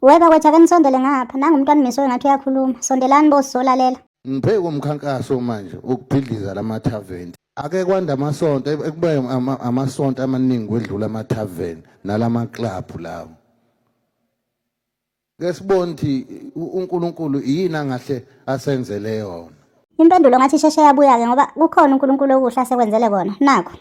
We bakwethu ake nisondele ngapha nangu umntwana umiso engathi uyakhuluma sondelani bo sizolalela Ngibheke umkhankaso manje ukubhidliza lama tavern. Ake kwanda amasonto ebe- ekube ama- amasonto amaningi kwedlula ama tavern nalama club lawo. Ke sibone ukuthi u- uNkulunkulu yini angahle asenzele yona. impendulo ngathi isheshe yabuya-ke ngoba kukhona unkulunkulu okuhle asekwenzele kona nakho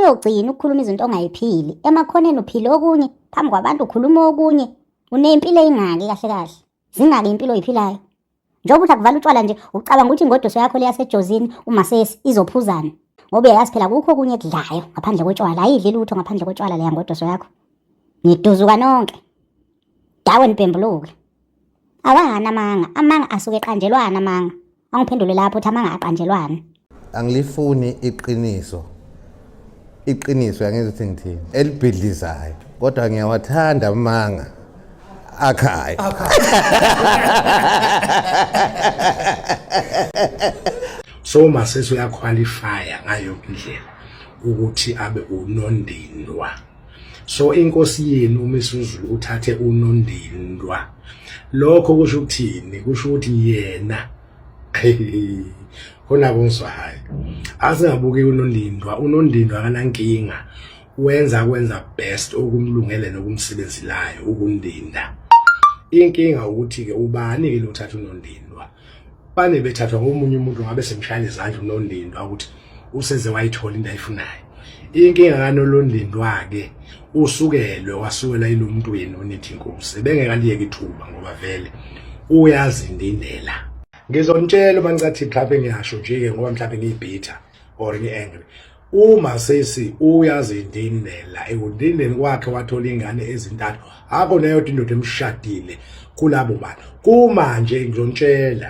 uyogcina ukukhuluma izinto ongayiphili emakhoneni uphile okunye phambi kwabantu ukhuluma okunye unempilo eyingaki kahle kahle zingaki impilo oyiphilayo njengoba uthi akuvala utshwala nje ucabanga ukuthi ingodoso yakho leyasejozini uma sesi izophuzana ngoba uyayazi phela kukho okunye kudlayo ngaphandle kotshwala ayidli lutho ngaphandle kotshwala leya ngodoso yakho ngiduzuka nonke dawe nibhembuluke awangani amanga amanga asuke eqanjelwana amanga angiphendule lapho ukuthi amanga aqanjelwana angilifuni iqiniso iqiniso yangenza ukuthi ngithini elibhidlizayo kodwa ngiyawathanda amanga akhayo so masesi uyaqualifya ngayo indlela ukuthi abe unondindwa so inkosi yenu umisuzulu uthathe unondindwa lokho kusho ukuthini kusho ukuthi yena khona kungizwahayo asingabuki unondindwa unondindwa akanankinga wenza kwenza best okumlungele nokumsebenzelayo ukundinda inkinga ukuthi ke ubani ke lothatha unondindwa bane bethathwa ngomunye umuntu ngabe semshayela izandla unondindwa ukuthi useze wayithola into ayifunayo inkinga kaNolondindwa-ke usukelwe wasukela yilo muntu wenu onithi inkosi ebengekaliyeka ithuba ngoba vele uyazindindela ngizonitshela uma ngicathi mhlawumbe ngiyasho nje-ke ngoba mhlawumbe ngiyibhitha or ngi-angry uma sesi uyazindindela ekundindeni kwakhe wathola ingane ezintathu akho neyodwa indoda emshadile kulabo bantu kumanje ngizonitshela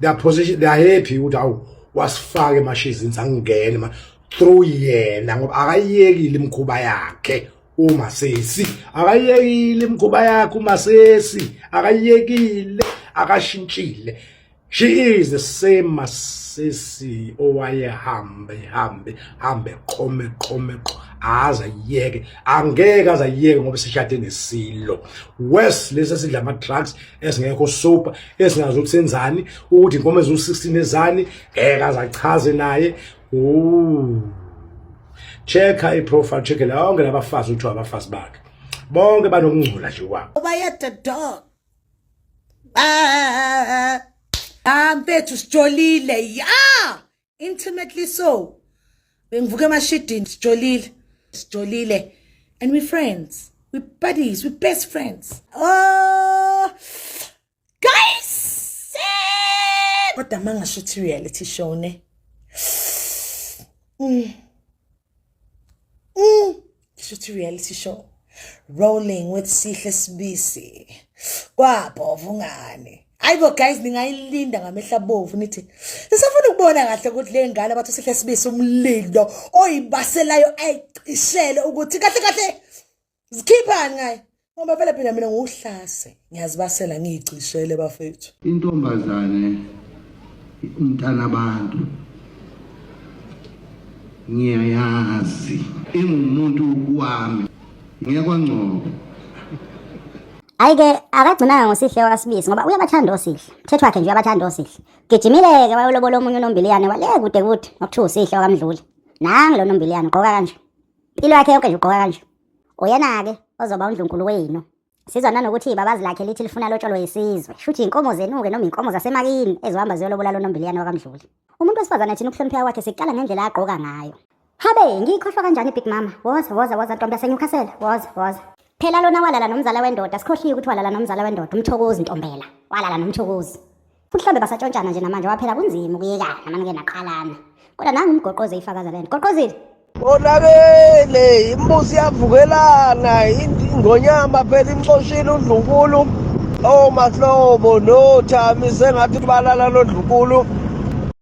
they are position they are happy ukuthi awu wasifake emashizini sangene ma through yena ngoba akayekile imkhuba yakhe uma sesi akayekile imkhuba yakhe uma sesi akayekile akashintshile she is the same masisi owayehambe hambe hambe qome qome qo aza yeke angeke aza yeke ngoba sishade nesilo worse lesi sidla ama drugs ezingekho sober ezingazi ukuthi senzani ukuthi inkomo eziwu-16 ezani ngeke azachaze naye check-a i-profile check-e lonke labafazi ukuthi abafazi bakhe bonke banokungcola nje kwabo ubayede dog ah, ah, ah, ah. ah mfethu sijolile ya intimately so bengivuka emashidini sijolile sijolile and we friends we buddies we best friends oh guys kodwa mangasho ukuthi reality show ne mm. mm. shuthi reality show rolling with sihle sibisi kwabhovu ngane ayibo guys ningayilinda ngamehla bovu nithi sisafuna ukubona kahle ukuthi le ngane abathi sihle sibisi umlindo oyibaselayo ayicishele ukuthi kahle kahle zikhiphani ngaye ngoba vele phela mina ngiwuhlase ngiyazibasela ngiyigcishele bafethu intombazane umntana abantu ngiyayazi ingumuntu wami ngiyakwangcobo ayike akagcinanga ngosihle wakasibisi ngoba uyabathanda osihle mthetho wakhe nje uyabathanda osihle gijimile-ke wayolobola omunye unombiliyane wale kude kude ngokuthiwa usihle wakamdluli nangi lo nombiliyane ugqoka kanje Impilo yakhe yonke nje ugqoka kanje. Uyena-ke ozoba undlunkulu wenu. Sizwa nanokuthi ibabazi lakhe lithi lifuna lotsholwe yisizwe. Shuthi inkomo zenu-ke noma inkomo zasemakini ezohamba ziyolobola lo nombiliyane wakamdluli. Umuntu wesifazane thina ukuhlonipheka kwakhe siqala ngendlela agqoka ngayo. Habe, ngiyikhohlwa kanjani big mama? Woza, woza, woza ntombi yaseNewcastle. Woza, woza. Phela lona walala nomzala wendoda, sikhohliwe ukuthi walala nomzala wendoda, umthokozi ntombela. Walala nomthokozi. futhi hlambe basatshontshana nje namanje waphela kunzima ukuyekana namane-ke naqalana kodwa nangu umgoqoze ifakaza lento goqozile konakele imbuzi yavukelana ingonyama phela imxoshile udlunkulu omahlobo nothami sengathi balala lodlunkulu